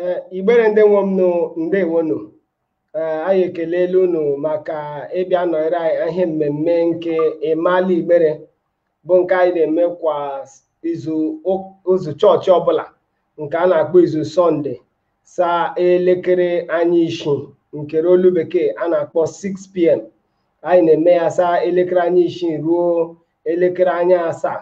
ee igbere ndị nwe m nụ ndewonụ ee anyị ekelela unu maka ịbịa nọnyere anyị ihe mmemme nke ịmala igbere bụ nke anyị na-eme kwa izu ụk- izu chọọchị ọbụla nke a na-akpọ izu sọnde saa elekere anya isii nke olu bekee a na-akpọ 6pm anyị na-eme ya saa elekere anya isii ruo elekere anya asaa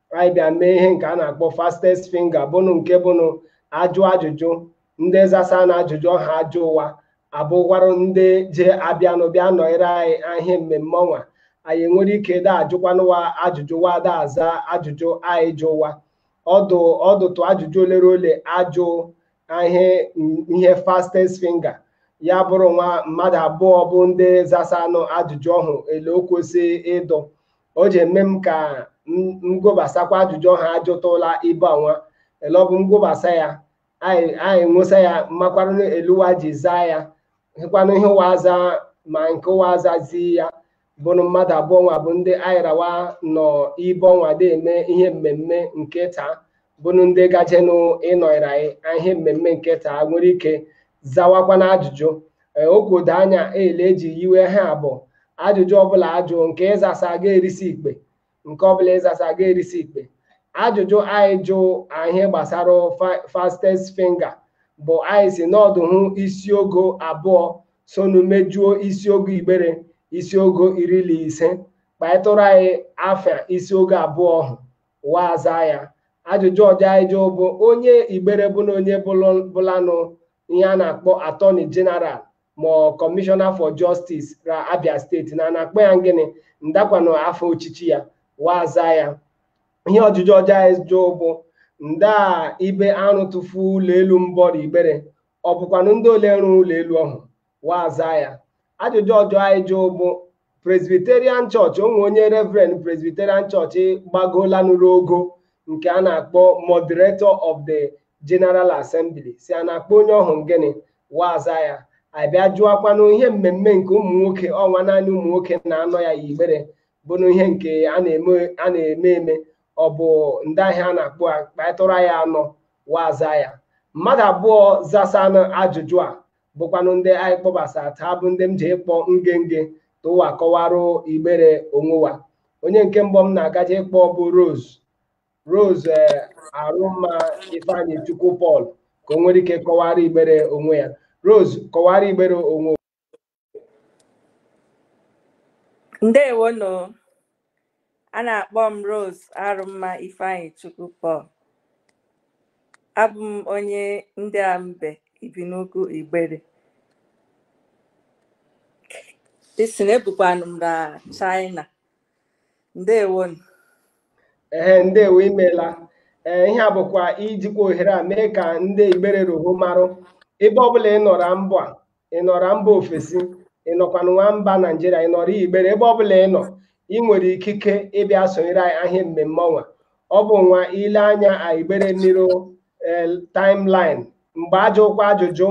anyị bịa mee ihe nke a na-akpọ fastest finger bụnụ nke bụnụ ajụ ajụjụ ndị zasanụ ajụjụ ọhụ a jụ ụwa abụkwarụ ndị je abịanụ bịa nọnyere anyị ihe mmemme ọnwa anyị nwere ike da ajụkwanụ ụwa ajụjụ ụwa da aza ajụjụ anyị jụ ụwa ọdụ ọdụtụ ajụjụ ole ra ole a jụ ihe ihe fastest finger ya bụrụ nwa mmadụ abụọ bụ ndị zasanụ ajụjụ ọhụ ele o kwesị ịdụ o ji eme m ka m gwobasakwa ajụjụ ọhụ a jụtụla ibe ọnwa ele ọ bụ m gwobasa ya anyị nwụsa ya makwanụ ele ụwa ji zaa ya ihekwanụ ihe ụwa aza ma nke ụwa azazi ya bụrụ mmadụ abụọ ọnwa bụ ndị anyị ra ụwa nọ ibe ọnwa da eme ihe mmemme nke taa bụnụ ndị gajenụ ịnọnyere anyị ihe mmemme nke taa nwere ike zawakwa na ajụjụ okwudo anya ele eji yiwe ha abụọ ajụjụ ọbụla a jụ nke ị zasa ga-erisi ikpe nke ọbụla ị zasa ga-erisi ikpe ajụjụ anyị jụ ihe gbasara fastest finger bụ anyị sị n'ọdụ hụ isiogo abụọ sonu mejuo isiogo igbere isiogo iri na ise kpaịtụrụ anyị afịa isiogo abụọ ọhụ ụwa aza ya ajụjụ ọjọ anyị jụụ bụ onye igbere bụ na onye bụlụ- bụlanụ ihe a na-akpọ atọni jeneral ma ọ kọmishọna for justice ra abia steeti na a na-akpọ ya gịnị ndakwanụ afọ ọchịchị ya ụwa aza ya ihe ọjụjụ ọjọ anyị jụụ bụ nda ibe a rụtụfu ụlọ elu mbọ ra igbere ọ bụkwanụ ndị ole rụrụ ụlọ elu ọhụ ụwa aza ya ajụjụ ọjọ anyị jụụ bụ presbyterian chọọchị o nwe onye reverend presbyterian chọọchị gbagoolanụ ruo ogo nke a na-akpọ moderator of the general assembly sị a na-akpọ onye ọhụ gịnị ụwa aza ya a bịa jụọkwanụ ihe mmemme nke ụmụ nwoke ọnwa naanị ụmụ nwoke na-anọ ya yi igbere bụnụ ihe nke a na-eme a na-eme eme ọ bụ nda ihe a na-akpọ wa kpatụra ya anọ ụwa aza ya mmadụ abụọ zasanụ ajụjụ a bụkwanụ ndị anyị kpọbasa taa bụ ndị m je ịkpọ nge nge ta ụwa kọwara igbere onwe ụwa onye nke mbụ m na-agaje ịkpọ bụ Rose Rose eh, Arụmma Ifeanyichukwu Paul ka o nwere ike kọwara igbere onwe ya Rose kọwara igbere onwe ndewonụ A na-akpọ m Rose Arụmma Ifeanyị Chukwu Paul. Abụ m onye Ndị Ambe Ibinaukwu Igbere. Isi na ebukwanụ m na China. Ndewonu. ee ndewo imeela ee ihe a bụkwa ijikwa ohere a mee ka ndị igbere roho marụ ebe ọbụla ị nọrọ mba ụwa ị nọrọ mba ofesi ị nọkwanụ nwa mba naijiria ị nọrọ igbere ebe ọbụla ị nọ ị nwere ikike ịbịa sonyere anyị a ihe mmemme ọnwa ọ bụ nwa ile anya igbere niro eh, timeline mgbe ajụkwa ajụjụ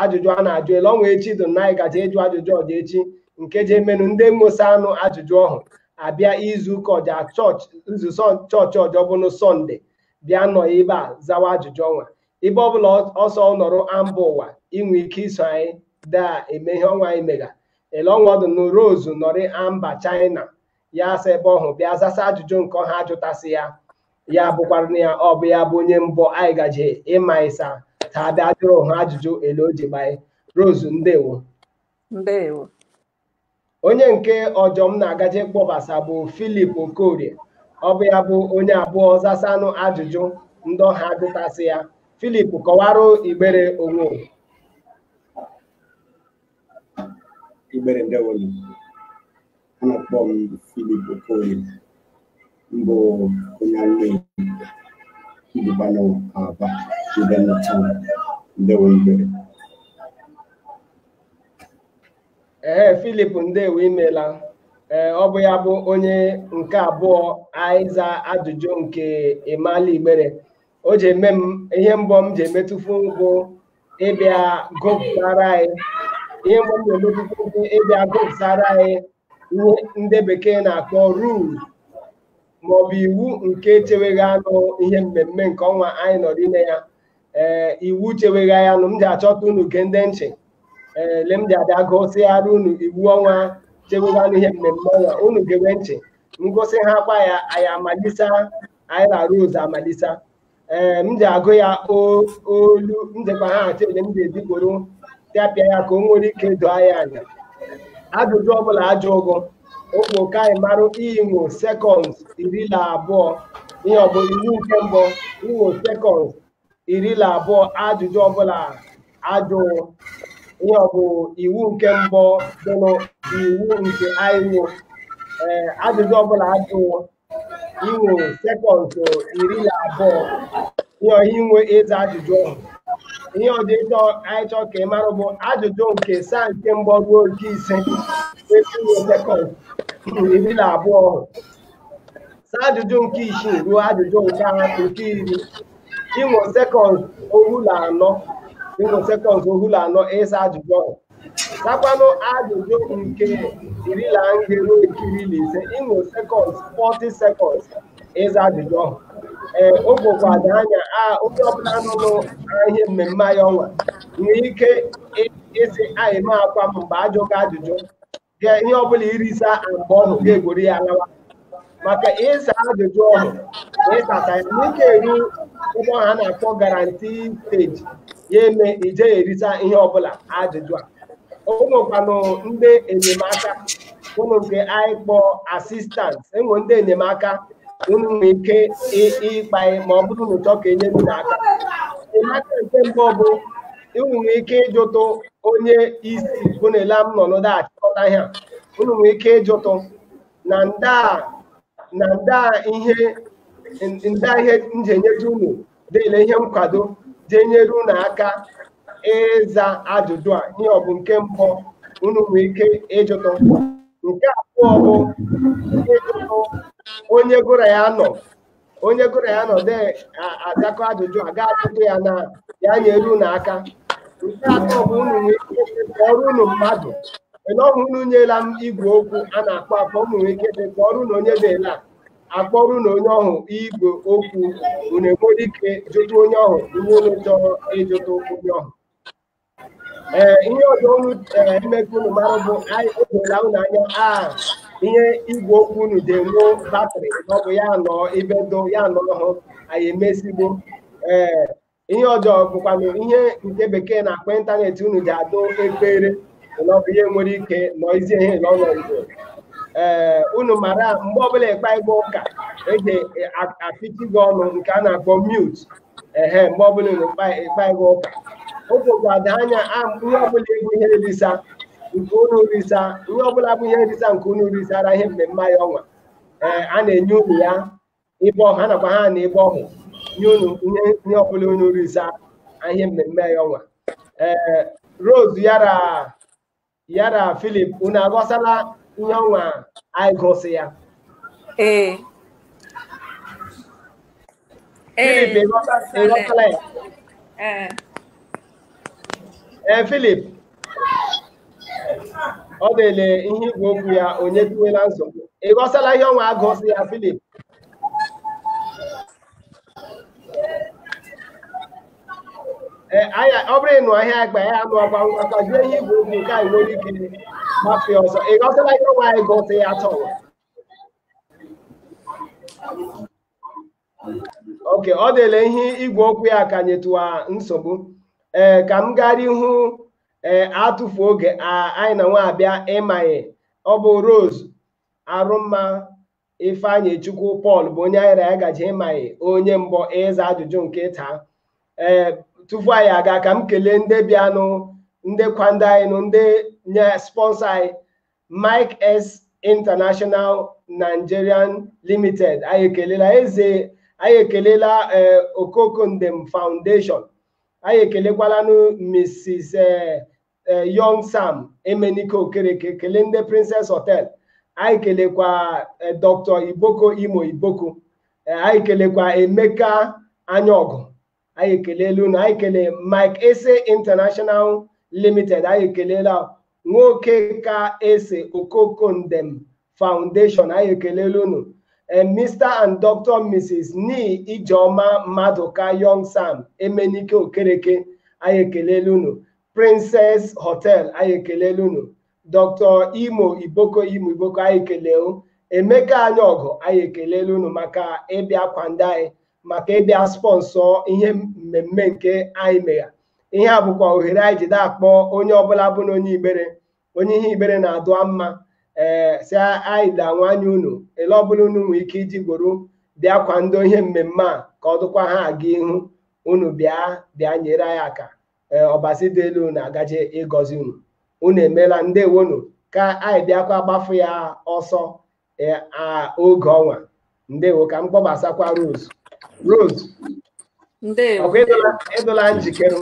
ajụjụ a na-ajụ ele ọnwa echi dị na anyị gaje ịjụ ajụjụ ọja echi nke je menụ ndị mmosa anụ ajụjụ ọhụ abịa izu ụka ọjọ izu chọọchị ọjọ bụnụ sọnde bịa nọ ebe a zawa ajụjụ ọnwa ebe ọbụla ọsọ nọrọ amba ụwa i nwe ike iso anyị daa eme ihe ọnwa anyị mega ele ọnwa ọ dụ na Rose nọrị amba china ya asa ebe ọhụ bịa zasa ajụjụ nke ọhụ a jụtasị ya ya bụkwara na ya ọ bụ ya bụ onye mbụ anyị gaje ịmalisa taa bịa jụrụ ha ajụjụ ele o ji gbanye Rose ndewo ndewo onye nke ọjọ m na-agaje kpọbasa bụ Philip Okorie ọ bụ ya bụ onye abụọ zasanụ ajụjụ ndị ọhụ a jụtasị ya Philip kọwarụ igbere onwe onye. Igbere ndewonu a na-akpọ m Philip Okorie m bụ onye nne m bukwanụ Aba Ibinanta ndewonu igbere ee Philip ndewo imela ee ọ bụ ya bụ onye nke abụọ a ịza ajụjụ nke Ịmala Igbere o ji eme m ihe mbọ m ji emetụfu bụ ịbịa gụpụtara anyị ihe mbọ m na-emetụfu bụ ịbịa gụpụtara anyị ihe ndị bekee na-akpọ rules maọbụ iwu nke chewegha anụ ihe mmemme nke ọnwa anyị nọ n'ime ya ee iwu chewegha ya nụ m ji achọta unu gee ndị nchị ee le m ji abịa gụsịghara unu iwu ọnwa chewegha anụ ihe mmemme ọnwa unu gewe nchị m gụsịhakwa ya anyị amalisa anyị na Rose amalisa ee m ji agụ ya o- olu m jikwa ha achọ ele m ga-eji Igbere tapịa ya ka o nwere ike doo anyị anya ajụjụ ọbụla ajụ ụgụ okwu ka anyị marụ i nwo sekọnd iri na abụọ ihe ọ bụ iwu nke mbụ i nwo sekọnd iri na abụọ ajụjụ ọbụla ajụ ihe ọ bụ iwu nke mbụ dị n'iwu nke anyị nwo ee ajụjụ ọbụla ajụ inwe sekọnd iri na abụọ ihe ọha inwe ịza ajụjụ ọhụ ihe ọdị ịchọ anyị chọọ ka ị mara bụ ajụjụ nke saa nke mbụ ruo nke ise esi inwe sekọnd iri na abụọ ahụ saa ajụjụ nke isii ruo ajụjụ nke a- nke iri inwe sekọnd ohu na anọ inwe sekọnd ohu na anọ ịza ajụjụ ọhụ Sakwanụ ajụjụ nke iri na nge ruo nke iri na ise inwe sekọnd 40 sekọnd ịza ajụjụ ọhụ ee o dokwa dị anya a onye ọbụla nọ n'ihe mmemme anyị ọnwa nwee ike ịsị anyị ma akwa m mgbe ajụghị ajụjụ ga ihe ọbụla irisa mgbe ọhụ ga-egwori ya alawa maka ịsa ajụjụ ọhụ na ịsata ya n'ike eru ebe ọhụ a na-akpọ guarantee stage ya eme ije ya erisa ihe ọbụla ajụjụ a o nwekwanụ ndị enyemaka unu nke anyị kpọọ assistant enwe ndị enyemaka unu nwere ike ị- ịkpa ya ma ọ bụrụ na unu chọọ ka e nye unu aka enyemaka nke mbụ bụ unu nwere ike ịjụtụ onye isi bụ na ele m nọ n'ụda achịkọta ihe a unu nwere ike ịjụtụ na ndị a na ndị a ihe ndị a ihe m je enyeju unu dịle ihe nkwado je enyere unu aka ịza ajụjụ a ihe ọ bụ nke mbụ unu nwere ike ịjụtụ nke abụọ bụ ịjụtụ onye gị na ya nọ onye gị na ya nọdụ azakọ ajụjụ a ga-ajụtụ ya na ya nyere unu aka nke atọ bụ unu nwee ike kpọọrọ unu mmadụ ọhụ unu nyela m igwe okwu a na-akpọ akpọ unu nwee ike dị kpọọrọ na onye na-ele a akpọrụ na onye ọhụ igwe okwu unu enwere ike jụta onye ọhụ ihe unu chọrọ ịjụtụ onye ọhụ ee ihe ọzọ unu ee ime ka unu mara bụ anyị odola unu anya a ihe igwe okwu unu dị enwe batrị na ọ bụ ya nọ ibe do ya nọ ọhụ anyị emezigbo ee ihe ọzọ bụkwanụ ihe nke Bekee na-akpọ ịntanetị unu dị adụ ekpere na ọ bụ ihe nwere ike nọ izi ihe na ọnọ igbo ee unu mara mgbe ọbụla ịkpa igwe ụka e ji apịchi gị ọnụ nke a na-akpọ mute ehe mgbe ọbụla unu kpa ịkpa igwe ụka o dokwa dị anya a ihe ọbụla bụ ihe nrisa nke unu risa ihe ọbụla bụ ihe nrisa nke unu risara ihe mmemme anyị ọnwa ee a na-enye unu ya ibe ọhụ a nakwa ha na ibe ọhụ nye unu ihe ihe ọbụla unu risa ihe mmemme anyị ọnwa ee Rose yara ya na Filip unu aghọsala ihe ọnwa anyị gụsị ya ee Filip ee ịghọta- ịghọtala ya ee ee Filip ọ dịle ihe igwe okwu ya ọ nyetụwala nsogbu ịghọsala ihe ọnwa agụsị ya Filip ọ bụrụ ịnụ ahịa agba ya anụ ọgba ngwa ka jụọ ihe igwe okwu nke anyị nwere ike gbafe ọzọ ịghọsala ihe ọnwa anyị gụsị ya tọwa oke ọ dịle ihe igwe okwu ya ka nyetụwa nsogbu ee ka m gara ihu ee atụfu oge anyị na nwa abịa ịmanye ọ bụ Rose Arụmma Ifeanyị Chukwu Pọl bụ onye anyị na ya gaje ịmaghị onye mbụ ịza ajụjụ nke taa ee tupu anyị aga ka m kelee ndị bịanụ ndị kwando anyị nụ ndị nye sponsọ anyị Mike S International Nigerian Limited anyị ekelela eze anyị ekelela ee Okoko Ndem Foundation anyị ekelekwalanụ Mrs. ee eh, Young Sam Emenike Okereke kelee ndị Princess Hotel anyị kelekwa eh, Dr. Iboko Imo Iboko eh, anyị kelekwa Emeka Anyaọgụ anyị ekelela unu anyị kele Mike Ese International Limited anyị ekelela nwoke ka ese Okoko Ndem Foundation anyị ekelela unu ee Mr and Dr Mrs Ni Ijeoma Maduka Young Sam Emenike Okereke anyị ekelela unu Princess Hotel anyị ekelela unu Dr Imo Iboko Imo Iboko anyị kelee Emeka Anyaọgụ anyị ekelela unu maka ịbịa kwando anyị maka ịbịa spọnsọ ihe mmemme nke anyị megha ihe a bụkwa ohere anyị jide akpọ onye ọbụla bụ na onye Igbere onye ihe Igbere na-adụ mma ee si anyị da nwanyị unu ele ọbụla unu nwee ike iji gworo bịa kwando ihe mmemme a ka ọ dụkwa ha aga ihu unu bịa bịa nyere anyị aka ee ọbasi dị elu na agaje ịgọzi unu unu emeela ndewonu ka anyị bịakwa gbafu ya ọsọ eh, a- oge ọnwa ndewo ka m kpọbasakwa Rose Rose ndewo ọkwa ịdụla ịdụla njikere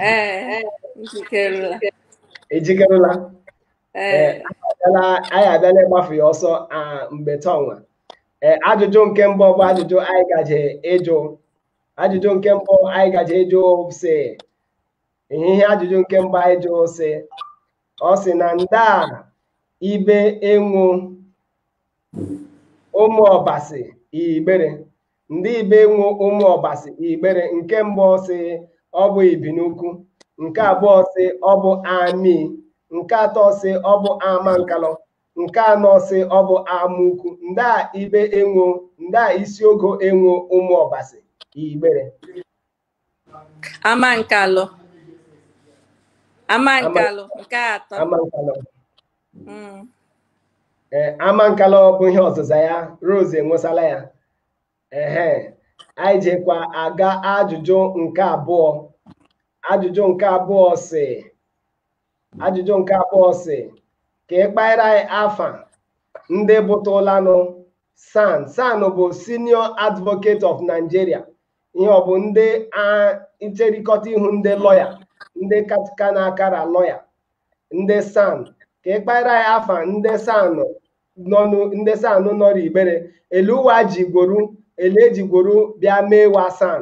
ee njikerela ejikerela ee abịala anyị abịala ịgbafu ya ọsọ ah, mgbe ta ọnwa ee ajụjụ nke mbụ bụ ajụjụ anyị gaje ịjụ ajụjụ nke mbụ anyị gaje ịjụ si ihe ajụjụ nke mbụ anyị jụ sị ọ sị na nda ibe enwu ụmụ ọbasi igbere ndị ibe enwu ụmụ ọbasi igbere nke mbụ sị ọ bụ ibinukwu nke abụọ sị ọ bụ amaiyi nke atọ sị ọ bụ amankalụ nke anọ sị ọ bụ amaukwu nda ibe enwo nda isi ogo enwo ụmụ ọbasi igbere Amankalụ. Amankalụ nke atọ. Amankalụ. Mm. Ee, Amankalụ bụ ihe ọzịza ya Rose enwesala ya ehe anyị jekwa aga ajụjụ nke abụọ ajụjụ nke abụọ sị ajụjụ nke abụọ sị ka ị kpaịra anyị afa ndị bụtụlanụ san san bụ senior advocate of nigeria ihe ọ bụ ndị ncherịkọta ihu ndị lọya ndị ka na-akara lọya ndị san ka ị kpaara ya afa ndị san nọnụ ndị san nọrọ igbere ele wa ji gworu ele eji gworu bịa mee wa san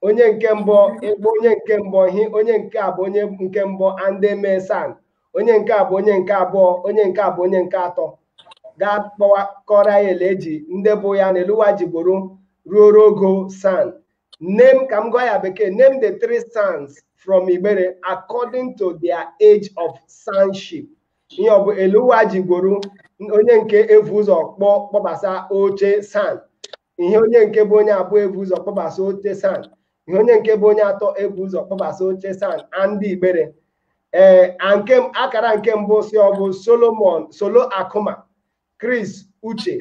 onye nke mbụ ịgba onye nke mbụ hi onye nke a bụ onye nke mbụ andị mee san onye nke a bụ onye nke abụọ onye nke a bụ onye nke atọ gaa kpọwa kọrọ ya ele eji ndị bụ ya na ele wa ji gboro ruo rogo san name ka m gụọ ya bekee name the three sans from Igbere according to their age of sanship ihe ọ bụ ele wa ji gboro onye nke evu ụzọ kpọ kpọbasa oche san ihe onye nke bụ onye abụọ ebu ụzọ kpọbasa oche san ihe onye nke bụ onye atọ ebu ụzọ kpọbasa oche san andị igbere ee nke akara nke mbụ sị ọ bụ solomon solo akuma chris uche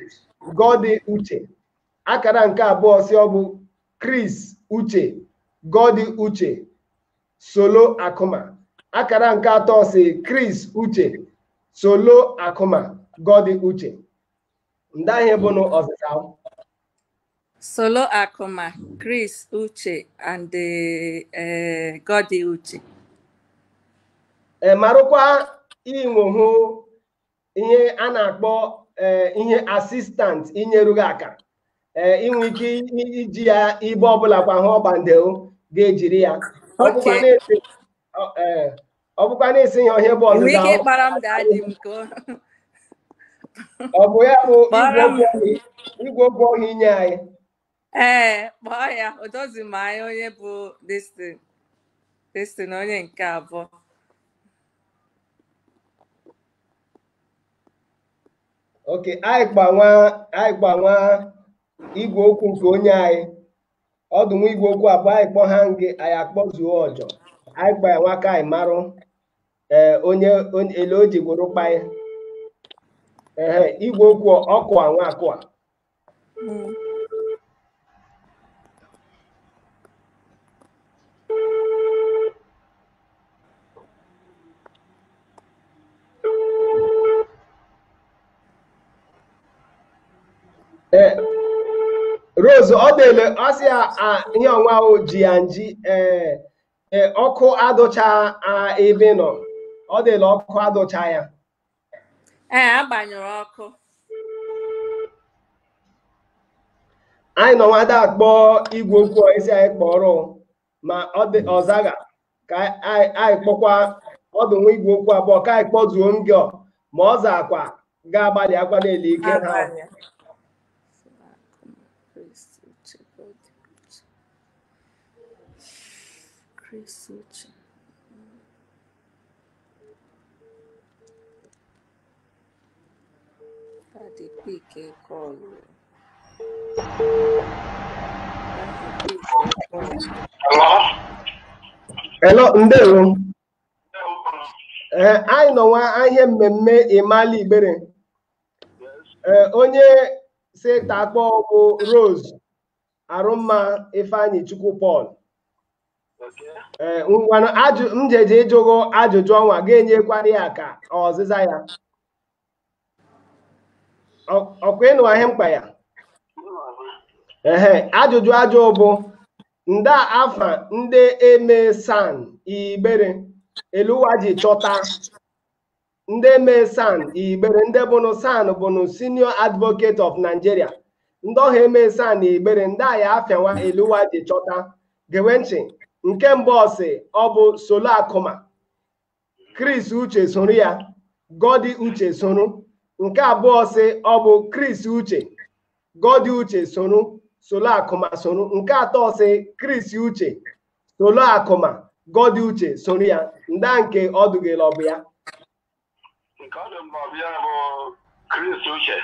gordy uche akara nke abụọ sị ọ bụ chris uche gordy uche solo akuma akara nke atọ sị chris uche solo akuma gordy uche ndị ahụ bụnụ ọzịza Solo Akuma, Chris Uche, and uh, Gordy Uche. E marụkwa i nwohụ ihe a na-akpọ e, ihe assistant inyeru gị aka e, i nwe ike iji ya ibe ọbụla kwa hụ ọgbandeo ga-ejiri ya ọ bụkwa na-esi ihe ọhịa bụ Ị nwere ọdịda ike ahụ ịkpara m daadị m ka ọ- ọ bụ ya bụ igwe kpọrọ m okwu ọhịa igwe okwu ọhịa i nye anyị ee kpọọ ya o dozi m anya onye bụ destin destin onye nke abụọ oke anyị gbanwa anyị gbanwa igwe okwu nke onye anyị ọ dụ nwa igwe okwu abụọ anyị kpọ ha nge anyị akpọzuo ọjọ anyị kpọ ya nwa ka anyị marụ ee onye onye- ele o ji gworo kpa ya ehe igwe okwu ọkụ a nwa akụ a Mm. Eh, Rose ọ dị ele ọ sị ya ah, ihe ọnwa ahụ ji ya nji eh, eh, ọkụ adụcha ah, ebe ị nọ ọ dị ele ọkụ adụcha ya ee a gbanyụrụ ọkụ anyị nọ nwada akpọ igwe okwu isi anyị kpọrọ ma ọ dị ọ zagha ka anyị anyị kpọkwa ọ dụ nwa igwe okwu abụọ ka anyị kpọzuo ngọ ma ọ zaakwa ga-agbalịakwa n'ele ike ha Abanye. Daddy pick a call. Hello, ndewo. Eh, anyị nọ nwa ihe mmemme Imali Igbere. Eh, onye si ta akpọ bụ Rose arụmma ifeanyịchukwu paul ee ngwanụ ajụ m jeje ịjụ gị ajụjụ ọnwa ga-enyekwara ya ka ọzịza ya Ọ- ọkwa ị nụwa ihe m kpa ya ehe ajụjụ ajụ bụ nda afa ndị eme san igbere ele wa ji chọta ndị mee san igbere ndị bụnụ san bụnụ senior advocate of nigeria ndị ọha eme san na igbere ndị a ya afa wa ele wa ji chọta gewe ntị nke mbụ ọ sị ọ bụ solo akụma chris uche soro ya godi uche soro nke abụọ sị ọ bụ chris uche godi uche soro solo akụma soro nke atọ sị chris uche solo akụma godi uche soro ya nda nke ọ dụ gị ele ọ bụ ya nke ọ dị m ka ọ bụ ya bụ chris uche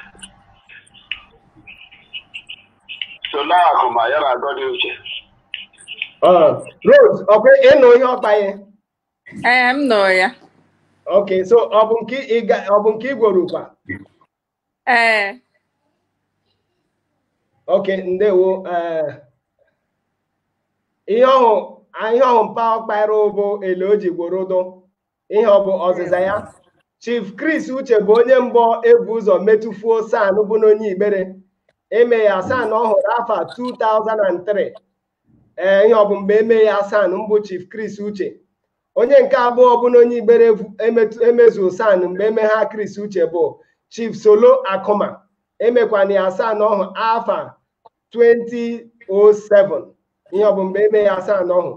solo akụma ya na godi uche rose ọkwa ị nụ ihe ọ kpa ya ee m nụ ya ok so ọ bụ nke ịga- ọ bụ nke i gworo kwa ee okay ndewo ee ihe ọhụ ihe ọhụ mpa ọkpara bụ ele o ji gworo dụ ihe ọ bụ ọzịza ya chief chris uche bụ onye mbụ ebu ụzọ metụfuo san bụ n'onye igbere eme ya san ọhụ r'afa 2003 ee ihe ọ bụ mgbe eme ya san mbụ chief Chris Uche onye nke abụọ bụ na onye igbere emezuo san mgbe eme ha Chris Uche bụ chief Solo Akụma emekwana ya san ọhụ afa 2007 ihe ọ bụ mgbe eme ya san ọhụ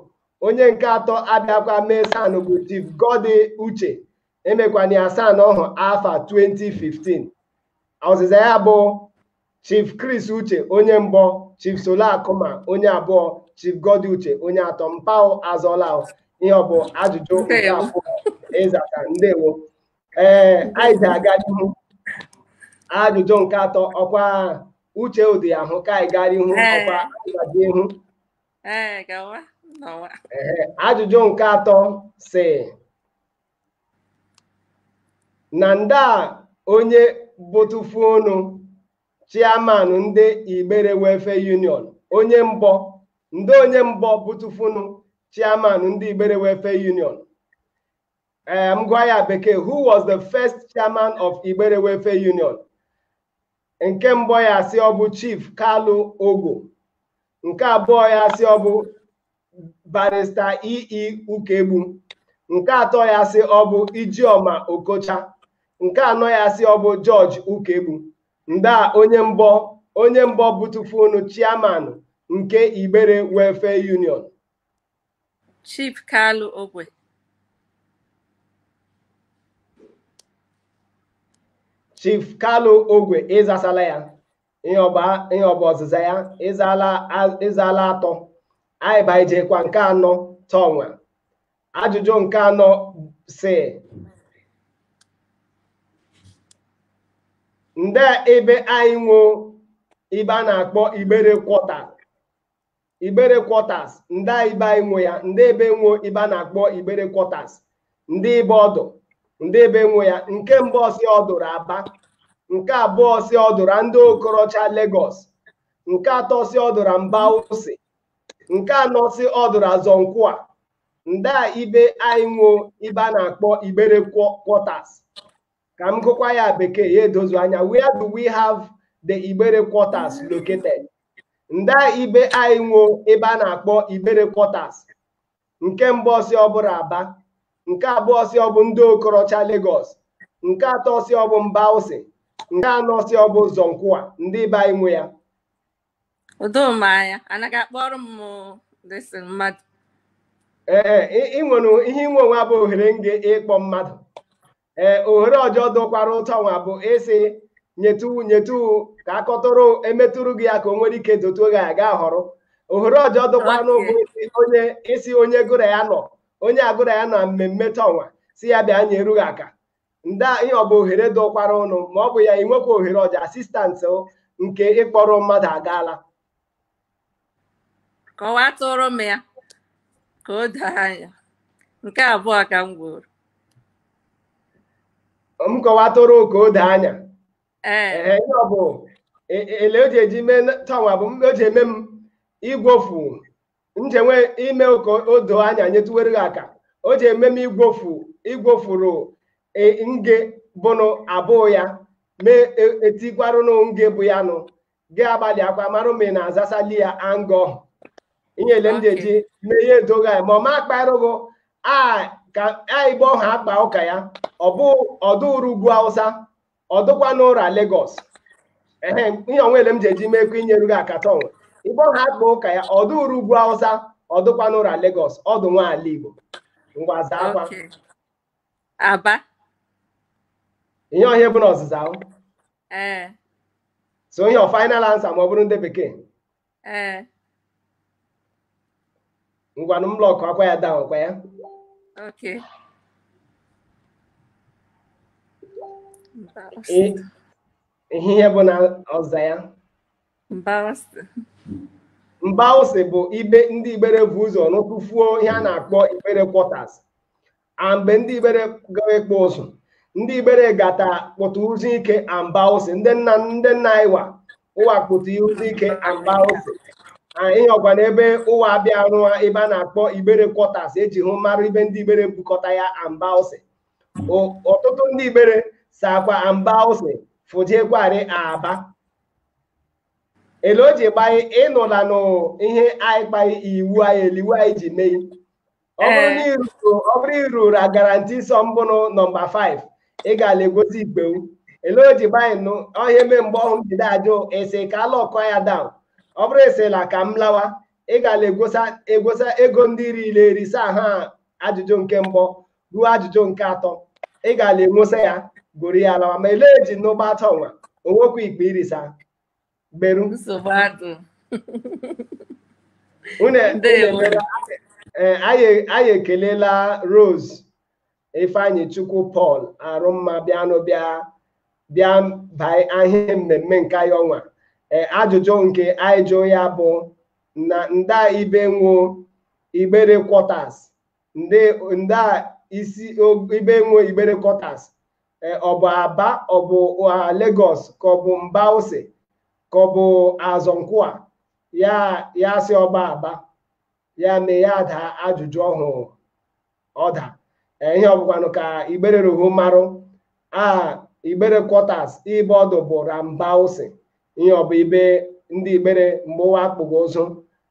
onye nke atọ abịakwa mee san bụ chief Godi Uche emekwana ya san ọhụ afa 2015 ọzịza ya bụ Chief Chris Uche onye mbọ Chief Solo Akụma onye abụọ Chief Godi Uche onye atọ mpao azọla ihe ọ bụ ajụjụ nke abụọ ị zata ndewo ee anyị ji aga r'ihu ajụjụ nke atọ ọkwa uche ụdị ahụ ka anyị gara ihu ọkwa ịgaji ihu ajụjụ nke atọ sị na nda onye bụtụfunụ chairman ndị Igbere Welfare Union onye mbọ nda onye mbọ bụtụfunụ chairman ndị Igbere Welfare Union ee m gwa ya bekee who was the first chairman of Igbere Welfare Union nke mbụ ya sị ọ bụ Chief Kalu Ogwo nke abụọ ya sị ọ bụ barrister e e ukegbu nke atọ ya sị ọ bụ ijioma okocha nke anọ ya sị ọ bụ george ukegbu nda onye mbọ onye mbọ bụtụfunụ chairman nke igbere welfare union chief kalu ogwe chief kalu ogwe ị zasala ya ihe ọ bụ ihe ọ bụ ọzịza ya ị zaala a- ị zaala atọ anyị baijekwa nke anọ tọnwa ajụjụ nke anọ sị nde ebe anyị nwo ibe a na-akpọ igbere quarter igbere quarters nda ibe anyị nwo ya ndị ebe nwo ibe a na-akpọ igbere quarters nda ibe ọ dụ ndị ebe nwo ya nke mbụ ọ sị ọ dụ r'aba nke abụọ ọ sị ọ dụ ra ndị okorocha Lagos nke atọ ọ sị ọ dụ ra mbausi nke anọ ọ sị ọ dụ ra azọ nkwụa nda ibe anyị nwo ibe a na-akpọ igbere quarters ka m gụkwa ya bekee ya edozu anya where do we have the igbere quarters located nda ibe anyị nwo ebe a na-akpọ igbere quarters nke mbụ ọ sị ọ bụ ra aba nke abụọ ọ sị ọ bụ ndị okorocha Lagos nke atọ ọ sị ọ bụ mbawsi nke anọ ọ sị ọ bụ zonkwa ndị ibe anyị nwe ya udomanya anaghị akpọrọ m dịsị mmadụ ee ị nwere ihe i nwe ọnwa bụ ohere nge ịkpọ mmadụ ee ohere ọjọ dụkwara tọnwa bụ ịsị nyetu nyetu aka a kọtụrụ emetụrụ gị ya ka o nwere ike dotuo gị anya gị ahọrọ ohere ọjọ dụkwaranụ bụ onye ịsị onye gị ra ya nọ onye gị ra ya nọ mmemme tọnwa sị ya bịa nyere gị aka nda ihe ọ bụ ohere dụkwaranụ ma ọ bụ ya inwekwa ohere ọjọ assistant nke ịkpọrọ mmadụ agaala kọwatụrụ m ya ka o doo anya nke abụọ ka m gwuru m kọwatụrụ ka o doo anya ee Ee, ihe ọ bụ e- e- ele o ji eji mee na- tọnwa bụ m- o ji eme m igwofu njenwe ime ka o doo anya nyetuwere gị aka o ji eme m igwofu igwofuru e- nge bụnụ abụọ ya mee e- etikwarụnụ nge bụ ya nụ gị agbalịakwa mara ma ị na-azasali ya anga ọhụ ihe ele m ji eji mee ihe edo gị anya ma ọ ma akparụ gị aka ibe ọhụ akpa ụka ya ọ bụ ọ dụ r'ugwu awụsa ọ dụkwanụ ra Lagos ehe ihe ọnwa ele m ji eji mee ka e nyere gị aka tọnwa ibe ọhụ akpa ụka ya ọ dụ r'ugwu awụsa ọ dụkwanụ ra Lagos ọ dụ nwa ala Igbo ngwa zaakwa aba ihe ọhụ bụ na ọzịza ahụ ee so ihe ọ final answer ma ọ bụrụ ndị bekee ee ngwanụ m lockụakwa ya down kwa ya okay I- ihe ihe bụ na ọzịza ya mbawsi bụ ibe ndị igbere vu ụzọ nwotufuo ihe a na-akpọ igbere quarters a mgbe ndị igbere gawa ịkpụ ụzụ ndị igbere gata kpụtụ zuo ike a mbawsi ndị nna ndị nna ịwa ụwa kpụtụ zuo ike a mbawsi ihe ọgwa n'ebe ụwa abịa rụwa ebe a na-akpọ igbere quarters e ji hụ mara ibe ndị igbere bukọta ya a mbawsi ọtụtụ ndị igbere sakwa a mbawsi fụjekwarị aba ele o ji gbaa anyị ị nụla nụ ihe anyị kpara iwu anyị ele iwu anyị ji mee ọ bụrụ Ee. na ị ruru- ọ bụrụ i ruru a guarantee sum bụnụ nọmba 5 ị ga-ala egosi igbewu ele o ji gbaa anyị nụ ọhụ eme mgbe ọhụ m ji de ajụ ị sị ka a lockụọ ya down ọ bụrụ ị sịla ka m lawa ị ga-ala egosa egosa ego ndị riri eri saa ha ajụjụ nke mbụ ruo ajụjụ nke atọ ị ga-ala enwosa ya goro ya alawa ma ele eji n'ụgbọ atọ nwa onwekwa ikpe irisa gberu nsogbu adụ Unu e- Ndewo. unu emela- ee, anyị anyị ekelela Rose Ifeanyichukwu Paul Arụmma bịanụ bịa bịa baa ihe mmemme nke anyị ọnwa Ee, ajụjụ nke anyị jụrụ ya bụ na nda ibe nwo Igbere quarters ndị nda isi o- ibe e nwo Igbere quarters eh, ọ bụ Aba ọ bụ ah, Lagos ka ọ bụ Mbawsi ka ọ bụ Azọnkwụa ya ya sị ọ bụ Aba ya mee ya daa ajụjụ ọhụ ọ da Eh, ihe ọ bụkwanụ ka Igbere rohu marụ aha Igbere quarters ibe ọ dụ bụ ra Mbawsi ihe ọ bụ ibe ndị Igbere mgbe ụwa akpụgo ụzụ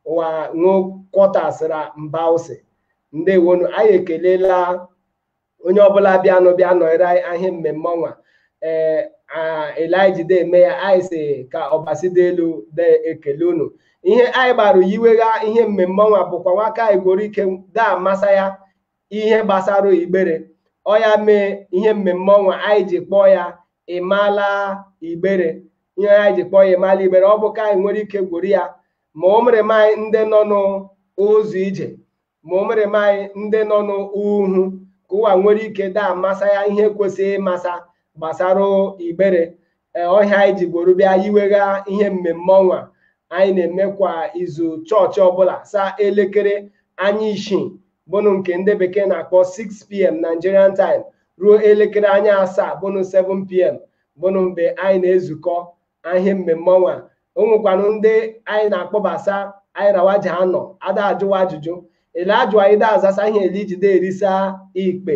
ụwa nwo quarters ra Mbawsi ndewonu anyị ekelela onye ọbụla bịanụ bịa nọrọ ihe mmemme ọnwa ee ele e ji de eme ya anyị si ka Ọbasi dị elu de ekele unu ihe anyị gbara yiwegha ihe mmemme ọnwa bụkwanụ ka anyị nworo ike da amasa ya ihe gbasara Igbere ọ ya mee ihe mmemme ọnwa anyị ji kpọọ ya Ị Mala Igbere ihe anyị ji kpọọ ya Ị Mala Igbere ọ bụ ka anyị nwere ike gwuru ya ma o mere m anyị ndị nọ n'ụzọ ije ma o mere m anyị ndị nọ n'uhu ka ụwa nwere ike da amasa ya ihe kwesịrị ịmasa gbasara Igbere ee ọ ihe anyị ji gboro bịa yiwegha ihe mmemme ọnwa anyị na-eme kwa izu chọọchị ọbụla saa elekere anya isii bụnụ nke ndị bekee na-akpọ 6pm Nigerian time ruo elekere anya asaa bụnụ 7pm bụnụ mgbe anyị na-ezukọ ihe mmemme ọnwa o nwekwanụ ndị anyị na-akpọbasa anyị ra wa ji anọ da ajụwa ajụjụ ele ajụ anyị da azasa ihe ele i ji de erisa ikpe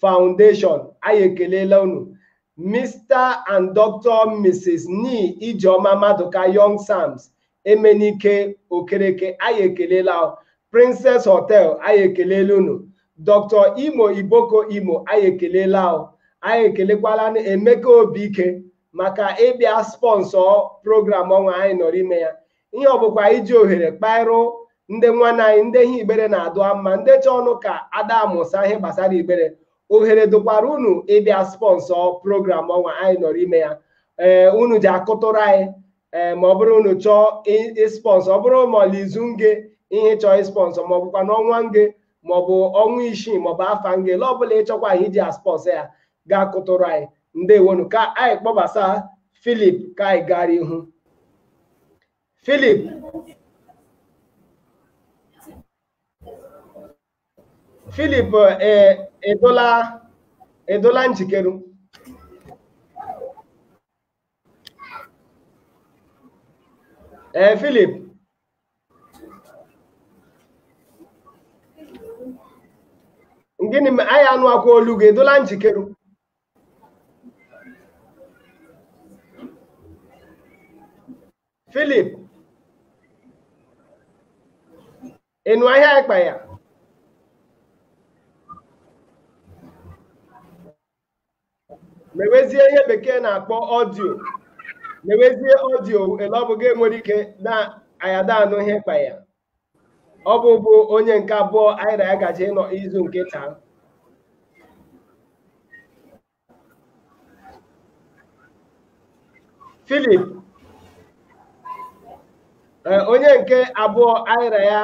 Foundation anyị ekelela unu Mr and Dr Mrs Ni Ijeoma Maduka Young Sams Emenike Okereke anyị ekelela Princess Hotel anyị ekelela unu Dr Imo Iboko Imo anyị ekelela anyị ekelekwala Emeka Obike maka ịbịa sponsor program ọnwa anyị nọrọ ime ya ihe ọ bụkwa iji ohere kpaịrụ ndị nwanne anyị ndị ihe Igbere na-adụ mma ndị chọọnụ ka ada amụsa ihe gbasara Igbere ohere dụkwara unu ịbịa sponsor program ọnwa anyị nọrọ ime ya ee unu ji akụtụrụ anyị ee ma ọ bụrụ unu chọọ ị- ịspọnsọ ọ bụrụ ma ọla izu nge ihe chọọ ịspọnsọ ma ọ bụkwa n'ọnwa nge maọbụ ọnwa isii maọbụ afọ nge ele ọbụla ịchọkwa ihe iji aspọnsọ ya ga-akụtụrụ anyị ndewonu ka anyị kpọbasa Philip ka anyị gara ihu Philip Philip ị dụla ị dụla njikere ee eh, Philip gịnị ma anyị anụ akwa olu gị ị dụla njikere Philip ị nụ ihe a ịkpa ya mewezie ihe bekee na-akpọ ọdio mewezie ọdio ele ọ bụ gị nwere ike na anyị da-anụ ihe kpa ya ọ bụ bụ onye nke abụọ anyị na ya gaje ịnọ izu nke taa Philip ee, onye nke abụọ anyị na ya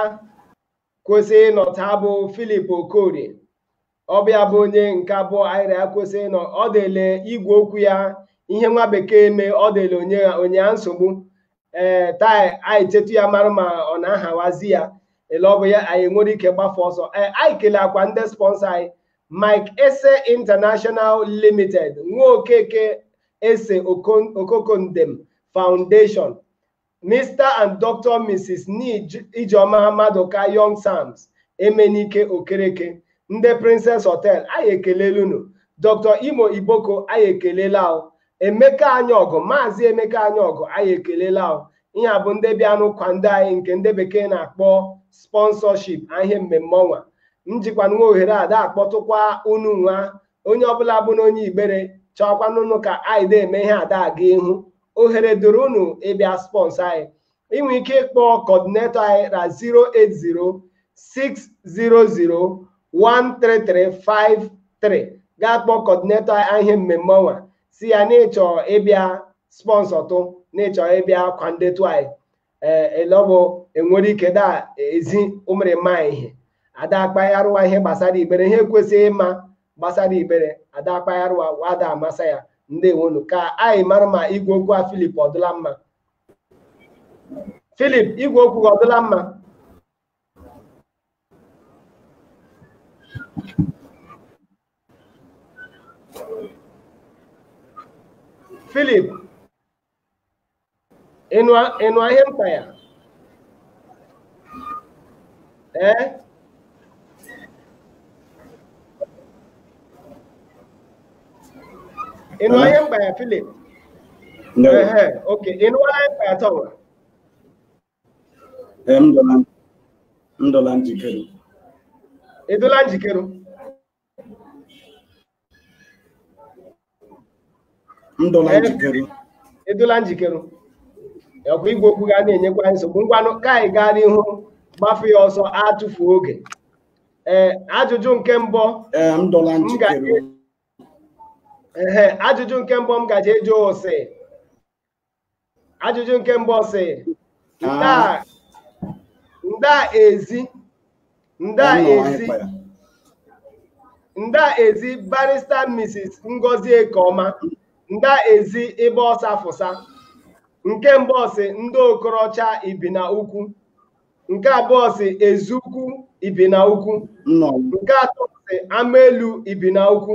kwesị ịnọ taa bụ Philip Okorie ọ bụ ya bụ onye nke abụọ anyị ra ya kwesị ịnọ ọ dịle igwe okwu ya ihe nwa bekee mee ọ dịle ọ na-enye ya nsogbu ee taa anyị chetụ ya mara ma ọ na-ahawazi ya ele ọ bụ ya anyị nwere ike gbafe ọsọ ee anyị keleakwa ndị spọnsọ anyị Mike Ese International Limited nwa okeke ese Okon- okokondem foundation Mr and Dr. Mrs. Nij Ijeoma Maduka Young Sams Emenike Okereke ndị Princess Hotel anyị ekelela unu Dr. Imo Iboko anyị ekelela ghụ Emeka Anyaọgụ Maazị Emeka Anyaọgụ anyị ekelela ghụ ihe a bụ ndị bịanụ kwande anyị nke ndị bekee na-akpọ sponsorship a ihe mmemme ọnwa m jikwa nwa ohere a da-akpọtụkwa unu nwa onye ọbụla bụ na onye igbere chọọkwanụnụ ka anyị na-eme ihe a da-aga ihu ohere dụrụ unu ịbịa spọnsọ anyị i nwe ike ịkpọ kọdinetọ anyị na 08060013353 gaa kpọọ kọdinetọ anyị ihe mmemme ọnwa sị ya na ị chọ ịbịa spọnsọtụ na ị chọ ịbịa kwandetụ anyị ele ọ bụ enwere ike da ezi ụmụrịma ihe a da-akpaghara ụwa ihe gbasara Igbere ihe e kwesịrị ịma gbasara Igbere a da-akpaghara ụwa ụwa da-amasa ya ndewonu ka anyị mara ma igwe okwu a Philip ọ dụla mma Philip igwe okwu gị ọ dụla mma Philip ị nụ ị nụa ihe m kpaịgha ee ị nụa ihe m kpaịgha Philip No. ehe okay ị nụa ihe m kpaịgha tọwa Ee, m dụla m dụla njikere. ị dụla njikere m dụla eh, njikere ị dụla njikere ọkwa igwe okwu ga na-enyekwa anyị nsogbu ngwanụ ka anyị gaa n'ihu gbafe ya ọsọ atụfu oge ee eh, ajụjụ nke mbụ eh, m dụla njikere ee ajụjụ nke mbụ m gaje ịjụ ọ sị ajụjụ nke mbụ sị nda nda ezi nda ezi nda ezi barrister mrs ngozi ekeọma nda ezi ebe ọ sa fụsa nke mbụ sị ndị okorocha ibina ukwu nke abụọ sị eziukwu ibina ukwu nke atọ sị ama elu ibina ukwu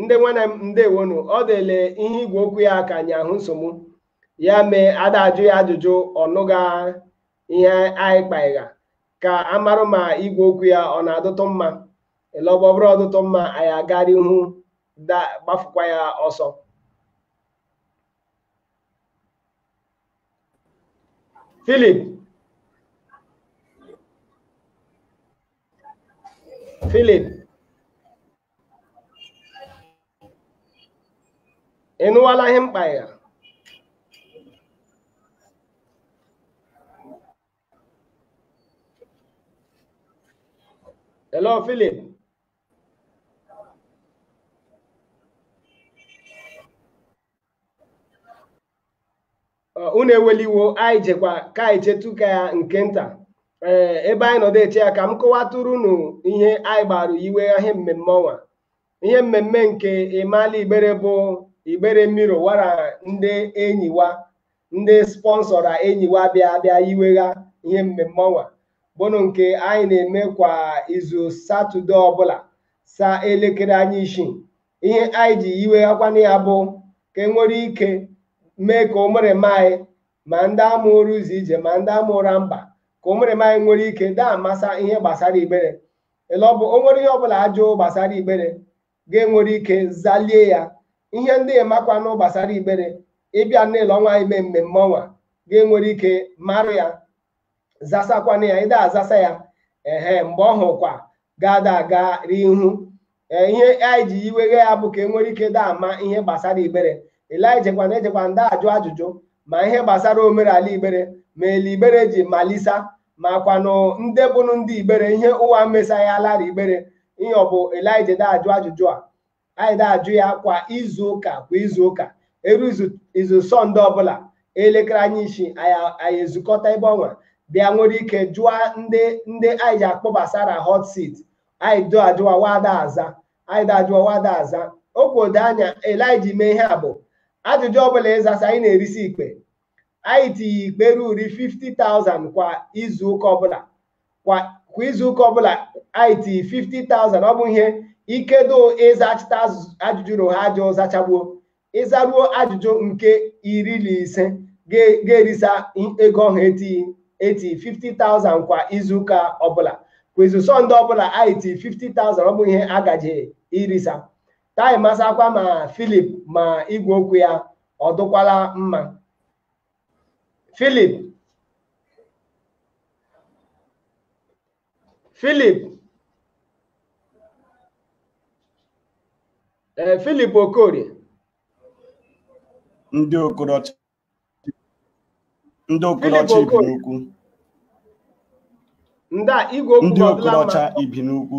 ndị nwanne m ndewonu ọ dị ele ihe igwe okwu ya ka anyị ahụ nsogbu ya mee a da-ajụ ya ajụjụ ọ nụga ihe anyị kpaịgha ka a marụ ma igwe okwu ya ọ na-adụtụ mma ele ọ bụ ọ bụrụ ọ dụtụ mma anyị agara ihu da- gbafukwa ya ọsọ Philip Philip ị nụwala ihe mkpa ya hello Philip unu ewela iwe o anyị jekwa ka anyị chetụkwa ya nke nta ee ebe anyị nọdụ eche ya ka m kọwatụrụ unu ihe anyị gbara iwegha ihe mmemme ọnwa ihe mmemme nke ị maala igbere bụ igbere mmiri wara ndị enyiwa ndị spọnsọra enyiwa bịa bịa iwegha ihe mmemme ọnwa bụnụ nke anyị na-eme kwa izu satọde ọbụla saa elekere anya isii ihe anyị ji iweghakwanụ ya bụ ka e nwere ike mee ka ụmụrịma anyị ma ndị a mụrụ ụzọ ije ma ndị a mụra mba ka ụmụrịma anyị nwere ike da-amasa ihe gbasara igbere ele ọ bụ o nwere ihe ọbụla ajụ gbasara igbere ga-enwere ike zalie ya ihe ndị ị makwanụ gbasara igbere ị bịa n'ele ọnwa ime mmemme ọnwa ga-enwere ike mara ya zasakwanụ ya ị da-azasa ya ehe mgbe ọhụkwa ga-ada aga ihu ee ihe anyị ji iwegha ya bụ ka e nwere ike da ama ihe gbasara igbere ele anyị jekwanụ ejekwanụ da-ajụ ajụjụ ma ihe gbasara omenala igbere ma ele igbere ji malisa makwanụ ndị bụnụ ndị igbere ihe ụwa mesa ya lara igbere ihe ọ bụ ele anyị je da ajụ ajụjụ a anyị da-ajụ ya kwa izu ụka kwa izu ụka eru izu sọnde ọbụla elekere anya isii anyị ezukọta ebe ọnwa bịa nwere ike jụọ ndị ndị anyị ji akpọbasara hot seat anyị da ajụ wa wa da aza anyị da ajụ wa wa da aza okwu ode anya eliji mee ihe a bụ ajụjụ ọbụla ịzasa anyị na-erisi ikpe anyị tinye ikpe ruri 50,000 kwa izu ụka ọbụla kwa kwa izu ụka ọbụla anyị tinye 50,000 ọ bụ ihe ikedo ịzachita azụ- ajụjụ na ha ajụ zachagbuo ịzaruo ajụjụ nke iri na ise ga- ga-erisa i- ego ọhụ eti eti 50,000 kwa izu ụka ọbụla kwa izu sọnde ọbụla anyị tinye 50,000 ọ bụ ihe a gaje irisa ka anyị masakwa ma filip ma igwe okwu ya ọ dụkwala mma filip filip ee eh, filip okorie ndị okorocha ndị okorocha ibinaukwu nda igwe okwu ndị okorocha ibinaukwu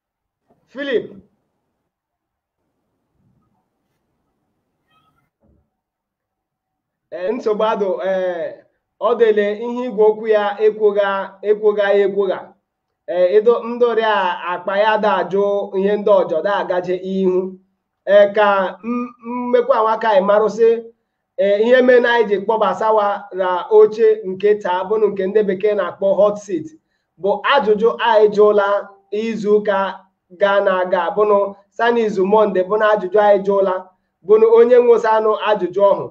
Filip ee nsogbu adụ ee ọ dịle ihe igwe okwu ya ekwogha ekwogha ya ekwogha ee ịdụ ndị ọrịa akpa ya da ajụ ihe ndị ọjọ da agaje ihu ee ka m- mmekwa nwa ka anyị marụ sị ee ihe mere na anyị ji kpọbasa wa na oche nke taa bụnụ nke ndị bekee na-akpọ hot seat bụ ajụjụ anyị jụla izu ụka gara aga bụnụ sa na izu monde bụnụ ajụjụ anyị jụla bụnụ onye nwosanụ ajụjụ ọhụ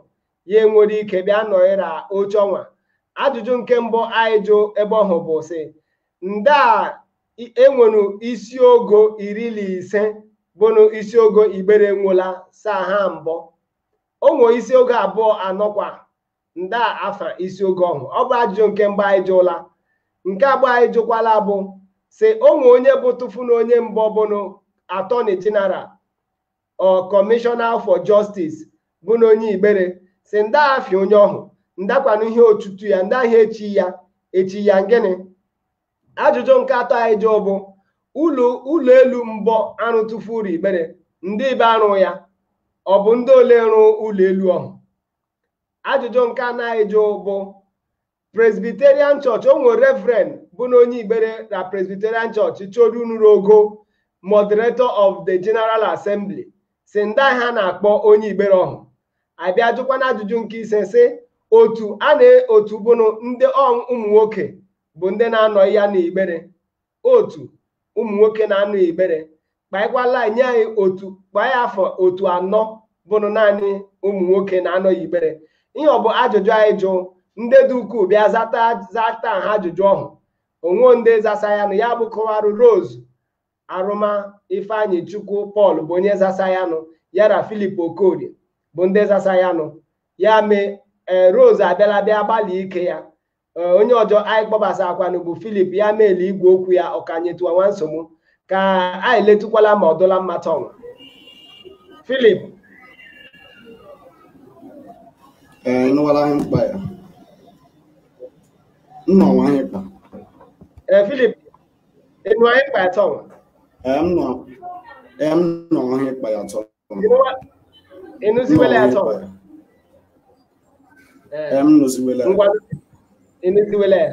ya enwere ike bịa nọghịra oche ọnwa ajụjụ nke mbụ anyị jụ ebe ọhụ bụ sị nda e nwere isi ogo iri na ise bụnụ isi ogo igbere nwụla saa ha mbọ o nwe isi ogo abụọ anọkwa nda afa isi ogo ọhụ ọ bụ ajụjụ nke mbụ anyị jụla nke abụọ anyị jụkwala bụ sị o nwe onye bụ tụfu na onye mbụ bụnụ attorney general or commissioner for justice bụ na onye igbere sị nda afa onye ọhụ ndakwanụ ihe otutu ya nda ihe e chi ya e chi ya ngịnị ajụjụ nke atọ anyị jụọ bụ ụlọ ụlọ elu mbọ a rụ tụfuru igbere nda ebe a rụ ya ọ bụ ndị ole rụ ụlọ elu ọhụ ajụjụ nke anọ anyị jụ bụ presbyterian church o nwere reverend bụ na onye igbere na presbyterian church chọrọ unuru ogo moderator of the general assembly sị nda ihe a na-akpọ onye igbere ọhụ a bịa jụkwanụ ajụjụ nke ise sị otu a na otu bụnụ ndị ụmụ nwoke bụ ndị na-anọ ya n'Igbere otu ụmụ nwoke na-anọ Igbere kpaịkwala nye anyị otu kpaa ya afọ otu anọ bụnụ naanị ụmụ nwoke na-anọ ya Igbere ihe ọ bụ ajụjụ anyị jụ ndị dị ukwuu bịa zata zata ha ajụjụ ọhụ o nwe ndị zasa ya nụ ya bụ kọwarụ Rose Arụma Ifeanyịchukwu Paul bụ onye zasa ya nụ ya na Philip Okorie bụ ndị zasa ya nụ ya mee ee Rose abịala bịa gbalị ike ya eh, onye ọjọ anyị kpọbasakwanụ bụ Philip ya meela igwe okwu ya ọ ka nyetụwa nwa nsogbu ka anyị letukwala ma ọ dụla mma tọnwa Philip ị nụwala ihe m kpa ya m nụwa ihe ị kpa ee eh, Philip ị nụwa ihe m kpa ya tọnwa ee m nụwa ihe ị kpa ya tọnwa ị nụziwela ya sọ Ee, m nụziwela ngwa ị nụziwela ya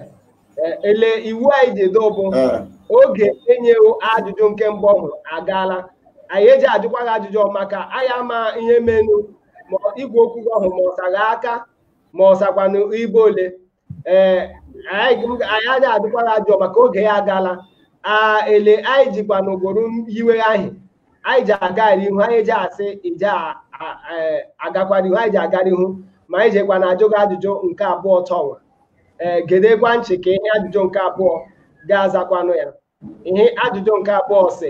Ee, ele iwu anyị ji edo bụ Ee, oge e nyewo ajụjụ nke mbụ ọhụ agaala anyị eji ajụkwa gị ajụjụ ọ maka anyị ama ihe menụ ma igwe okwu gị ọhụ ma ọ sa gị aka ma ọ sakwanụ ibe ole ee anyị aja ajụkwara ajụ maka oge ya agala a ele anyị jikwa n'ogboro iwe ahụ anyị ji agara ihu anyị ji asị ije agakwara ihu anyị ji agara ihu ma anyị jekwa na ajụ gị ajụjụ nke abụọ tọwa ee gedekwa nchị ka ihe ajụjụ nke abụọ ga-azakwanụ ya ihe ajụjụ nke abụọ sị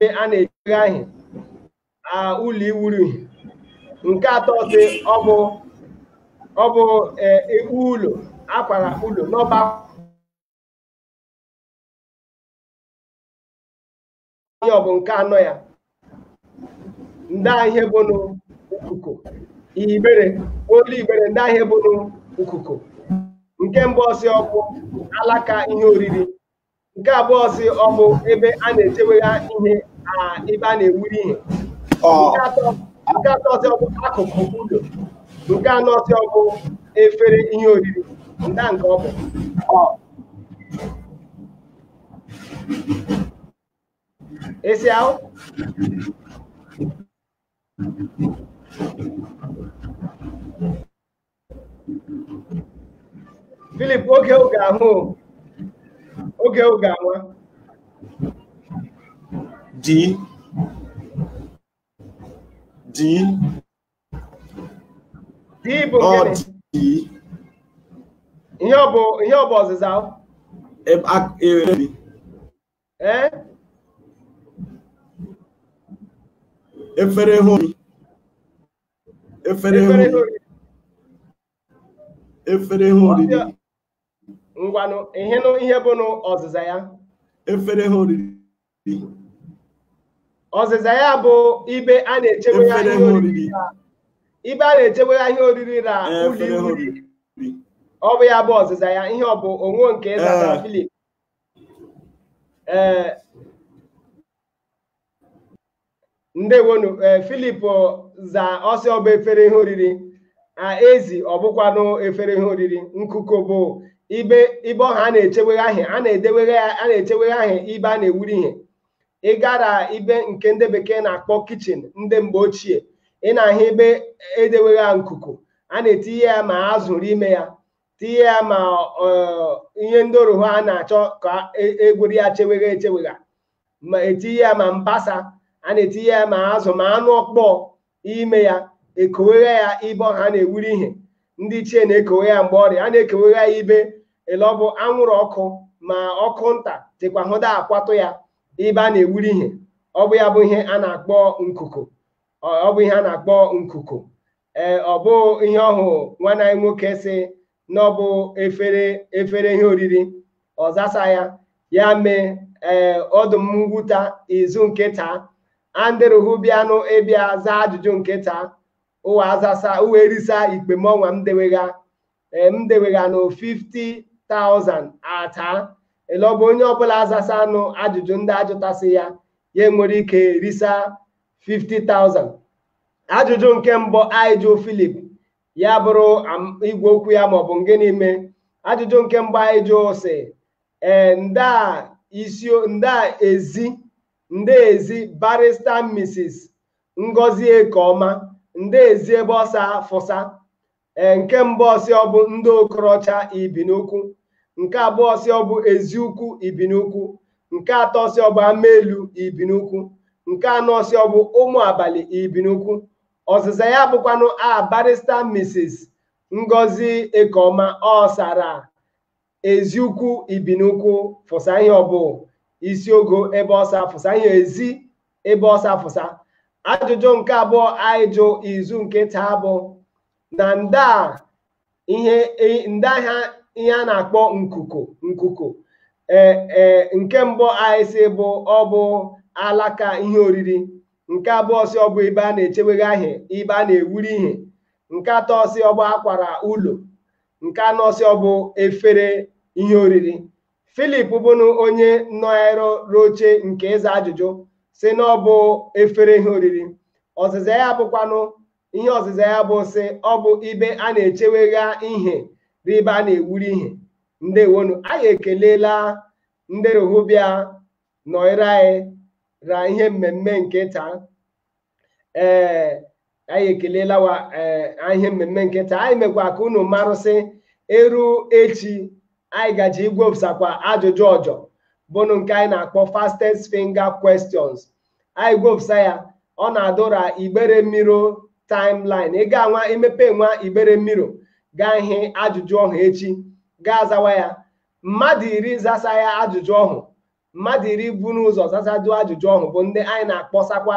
a na-ejigha ahị ụlọ iwuru ihe nke atọ sị ọ bụ ọ bụ ekpu ụlọ akwara ụlọ n'ọba ihe ọ bụ nke anọ ya nda ihe bụnụ ukuko Igbere olu Igbere nda ihe bụnụ ukuko nke mbụ ọ sị ọ bụ alaka ihe oriri nke abụọ sị ọ bụ ebe a na-echewegha ihe ebe a na-ewuri ihe nke atọ sị ọ bụ akụkụ ụlọ nke anọ sị ọ bụ efere ihe oriri nda nke ọ bụ esi ahụ Philip oge oge ahụ oge oge anwa D D D bụ ọ gịnị D ihe ọ bụ ihe ọ bụ ọzịza ahụ ebe a- ebe- ee efere hụ efere hụ efere ihe oriri ngwanụ ị hịnụ ihe bụnụ ọzịza ya efere ihe oriri ọzịza ya bụ ibe a na-echewegha ihe oriri ibe a na-echewegha ihe oriri ra ụlọ ọ bụ ya bụ ọzịza ya ihe ọ bụ o nwe nke ị zata Filip ee eh, ndewonu ee eh, Filip za ọ sị ọ bụ efere ihe oriri ezi ọ bụkwanụ efere ihe oriri nkuku bụ ibe ibe ọha a na-echewegha ihe a na-edewegha a na-echewegha ihe ibe a na-ewuri ihe ị gara ibe nke ndị bekee na-akpọ kichin ndị mgbe ochie ị na-ahụ ebe e dewegha nkuku a na-etinye ya ma azụ rụ ime ya tinye ya ma ihe ndị oru ha na-achọ ka egweri ya chewegha echewegha ma e tinye ya ma mbasa a na-etinye ya ma azụ ma anụ ọkpọọ ime ya e kowegha ya ibe ọha a na-ewuri ihe ndị ichie na-ekowe ya mgbe ọrị a na-ekowegha ya ibe ele ọ bụ anwụrụ ọkụ ma ọkụ nta dịkwa hụda akwatụ ya ibe a na-ewuri ihe ọ bụ ya bụ ihe a na-akpọ nkuku ọ bụ ihe a na-akpọ nkuku ee ọ bụ ihe ọhụ nwanne anyị nwoke sị na ọ bụ efere efere ihe oriri ọ zasa ya ya mee ee ọ dụ m nwute izu nke taa andịrụhụ bịanụ ịbịa zaa ajụjụ nke taa ụwa azasa ụwa erisa ikpe m ọnwa m dewegha ee m dewegha nụ 50,000 ata ele ọ bụ onye ọbụla azasanụ ajụjụ ndị ajụtasị ya ya nwere ike risa 50,000 ajụjụ nke mbụ anyị jụ Filip ya bụrụ igwe okwu ya maọbụ nke n'ime ajụjụ nke mbụ anyị jụ sị ee nda isi nda ezi nda ezi barista Mrs. Ngozi Ekeoma nda ezi ebe ọ sa fụsa ee nke mbụ ọ sị ọ bụ Ndị Okorocha Ibinukwu nke abụọ ọ sị ọ bụ Eziukwu Ibinukwu nke atọ ọ sị ọ bụ Amaelu Ibinukwu nke anọ ọ sị ọ bụ Ụmụ Abalị Ibinukwu ọzịza ya bụkwanụ a barista Mrs. Ngozi Ekeoma ọ sa ra Eziukwu Ibinukwu fụsa ihe ọ bụ isi ogo ebe ọ sa fụsa ihe ezi ebe ọ sa fụsa ajụjụ nke abụọ anyị jụ izu nke taa bụ na nda ihe e- nda ihe a na-akpọ nkuku nkuku ee ee nke mbụ anyị sị bụ ọ bụ alaka ihe oriri nke abụọ sị ọ bụ ibe a na-echewegha ihe ibe a na-ewuri ihe nke atọ sị ọ bụ akwara ụlọ nke anọ sị ọ bụ efere ihe oriri philip bụnụ onye nọrọ r'oche nke ịza ajụjụ sị na ọ bụ efere ihe oriri ọzịza ya bụkwanụ ihe ọzịza ya bụ sị ọ bụ ibe a na-echewegha ihe r'ibe a na-ewuri ihe ndewo nụ anyị ekelela ndị rohu bịa nọịra anyị ra ihe mmemme nke taa ee anyị ekelela wa ee ihe mmemme nke taa anyị mekwa ka unu marụ sị eru echi anyị gaji igwopụsakwa ajụjụ ọjọ bụnụ nke anyị na-akpọ fastest finger questions anyị gwopụsa ya ọ na-adụ ra igbere mirror timeline ị ga-anwa imepe nwa igbere mirror gaa hị ajụjụ ọhụ echi gaa zawa ya mmadụ iri zasa ya ajụjụ ọhụ mmadụ iri bu n'ụzọ zasadu ajụjụ ọhụ bụ ndị anyị na-akpọsakwa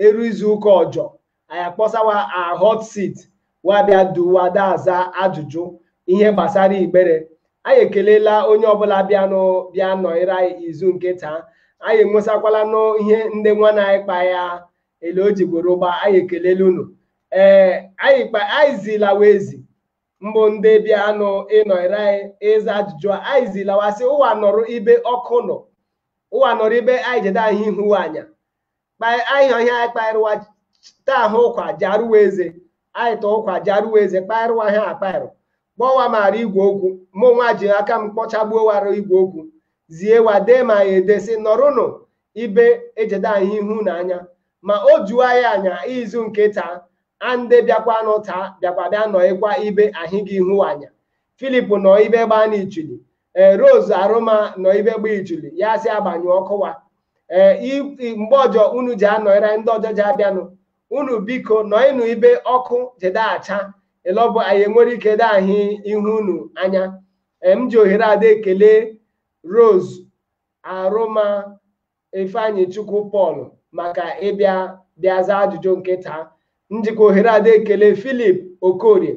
eru izu ụka ọjọ anyị akpọsa wa hot seat wa abịa duwa da aza ajụjụ ihe gbasara igbere anyị ekelela onye ọbụla bịanụ bịa nọnyere anyị izu nke taa anyị enwesakwala n'ihe ndị nwana anyị kpa ya ele o jigboro gba anyị ekelela unu ee anyị zila wa ezi mbụ ndị bịanụ ịnọrọ anyị ịza ajụjụ a anyị zila wa sị ụwa nọrọ ibe ọkụ nọ ụwa nọrọ ibe anyị jede ahị ihu wa anya kpa- anyị ọhịa anyị kpaịrụwa taa ahụ ụkwa jarụwa eze anyị tọ ụkwa jarụwa eze kpaịrụwa ha akpaịrụ kpọọ wa ma ra igwe okwu mụ nwa ji aka m kpọchagbuo wa ra igwe okwu zie wa dee ma ya ede sị nọrụnụ ibe ejede ahị ihu unu anya ma o juo anyị anya izu nke taa a nde bịakwanụ taa bịakwa bịa nọịkwa ibe ahịghị ihu wa anya philip nọ ibe gbaa n'ichili ee rose arụma nọ ibe gba ichili ya sị agbanyụ ọkụ wa ee mgbe ọjọ unu ji anọịra ndị ọjọ ji abịanụ unu biko nọịnụ ibe ọkụ jede acha ele ọ bụ anyị enwere ike de ahị ihu unu anya m ji ohere a da ekele rose Arụma Ifeanyichukwu Paul maka ịbịa bịa zaa ajụjụ nke taa. M jikwa ohere a da ekele Philip Okorie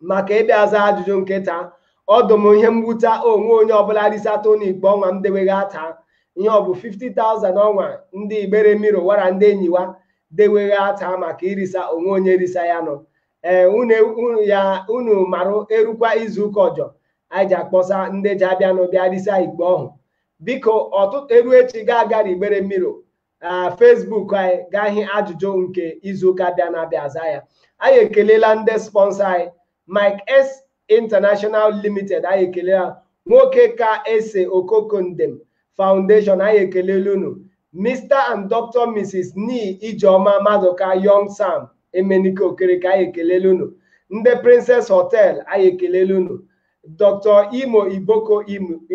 maka ịbịa zaa ajụjụ nke taa. Ọ dụ m ihe mwute o nwe onye ọbụla risata n'ikpe ọnwa m dewegha taa ihe ọ bụ 50,000 ọnwa ndị Igbere Mirror wa ra ndị enyi wa dewegha taa maka irisa o nwe onye risa ya nọ ee unu unu ya unu marụ erukwa izu ụka ọjọ anyị ji akpọsa ndị ji abịanụ bịa risa ikpe ọhụ biko ọtụtụ eru echi ga-agara Igbere Mirror ah, Facebook anyị gaa hị ajụjụ nke izu ụka bịa na-abịa aza ya anyị ekelela ndị sponsor anyị Mike S International Limited anyị ekelela nwoke ka ese okokondem foundation anyị ekelela unu Mr and Dr Mrs Ni Ijeoma Maduka Young Sam Emenike Okereke anyị ekelela unu ndị Princess Hotel anyị ekelela unu Dr Imo Iboko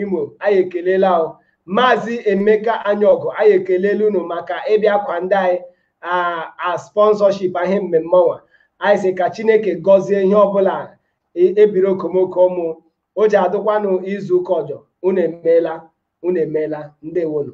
Imo anyị ekelela ahụ Maazị Emeka Anyaọgụ anyị ekelela unu maka ịbịa kwa ndị anyị a sponsorship ihe mmemme ọnwa anyị sị ka chineke gọzie ihe ọbụla e, ebiri okomoko ụmụ o ji adụkwanụ izu ụka ọjọ unu emeela unu emeela ndewonu